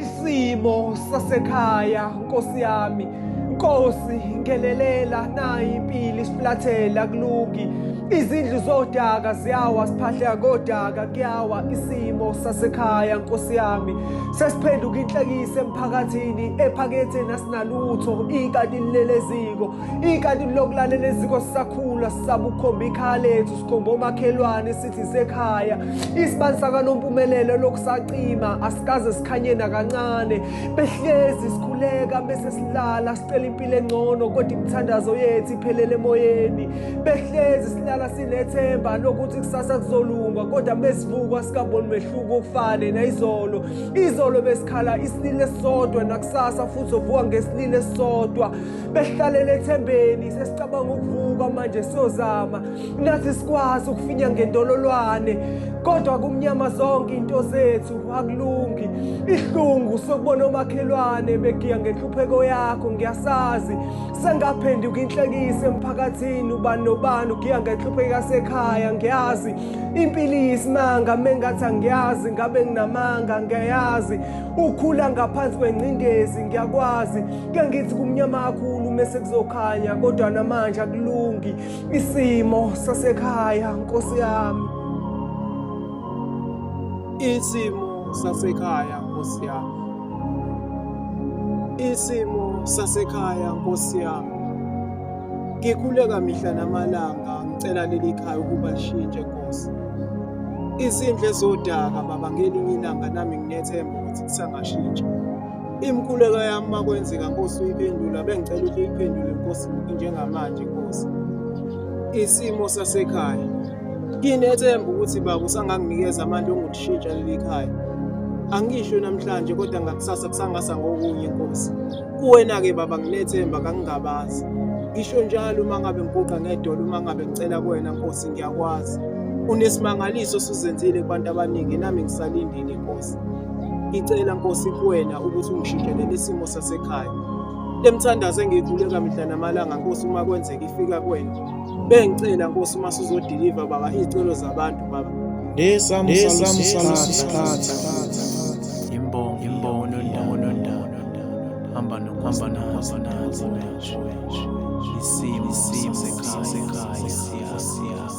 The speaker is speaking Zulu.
isimo sasekhaya nkosi yami nkosi ngelelela nayi impilo isiflathela kulungi izindlu zodaka ziyawa siphahleka kodaka kuyawa isimo sasekhaya nkosi yami sesiphenduka inhlekise emphakathini ephakethe nasinalutho ikati lileleziko Ikati lokulalela eziko sisakhula sisabukhomba ikhala ethu sikhomba omakhelwane sithi sekhaya isibani sakanompumelelo lokusacima asikaze sikhanye nakancane behlezi sikhuleka bese silala sicela impilo engcono kodwa imithandazo yethu iphelele emoyeni behlezi silala sinethemba lokuthi kusasa kuzolunga kodwa besivukwa sikaboni mehluko okufane nayizolo izolo besikhala isilile sodwa nakusasa futhi ovuka ngesilile sodwa behlalele ethembeni sesicabanga ukuvuka manje siyozama nathi sikwazi ukufinya ngendololwane kodwa kumnyama zonke into zethu akulungi ihlungu sokubona omakhelwane begiya ngenhlupheko yakho ngiyasazi sengaphenduka inhlekise emphakathini ubani nobani ugiya ngenhlupheko yasekhaya ngiyazi impilo iyisimanga mengathi angiyazi ngabe nginamanga ngiyayazi ukhula ngaphansi kwengcindezi ngiyakwazi ke ngithi kumnyama kakhulu mese kuzokhanya kodwa namanje akulungi isimo sasekhaya nkosi yami isimo sasekhaya nkosi yami isimo sasekhaya nkosi yami ngikhuleka mihla namalanga ngicela leli khaya ukuba lishintshe nkosi izindle zodaka baba ngelinye ilanga nami nginethemba ukuthi kusangashintshi Imkhuleko yami makwenzeka Nkosi uyiphendula bengicela ukuthi uyiphendule Nkosi njengamanje Nkosi. Isimo sasekhaya. Nginethemba ukuthi baba usanganginikeza amandla ongukushintsha leli khaya. Angisho namhlanje kodwa ngakusasa kusangasa ngokunye Nkosi. Kuwena ke baba nginethemba kangingabazi. Ngisho njalo uma ngabe ngiguqa ngedolo uma ngabe ngicela kuwena Nkosi ngiyakwazi. Unesimangaliso osuzenzile kubantu abaningi nami ngisalindile Nkosi. Ngicela Nkosi kuwena ukuthi ungishintshele isimo sasekhaya. Le mthandazo engiyikhuleka mihla namalanga Nkosi uma kwenzeka ifika kuwena. Bengicela Nkosi uma sizodeliver baba izicelo zabantu baba. Nesam salam salam sikhathi. Imbongo imbongo nondawo nondawo. Hamba nokuhamba nazo nazo. Isimo isimo sekhaya sekhaya.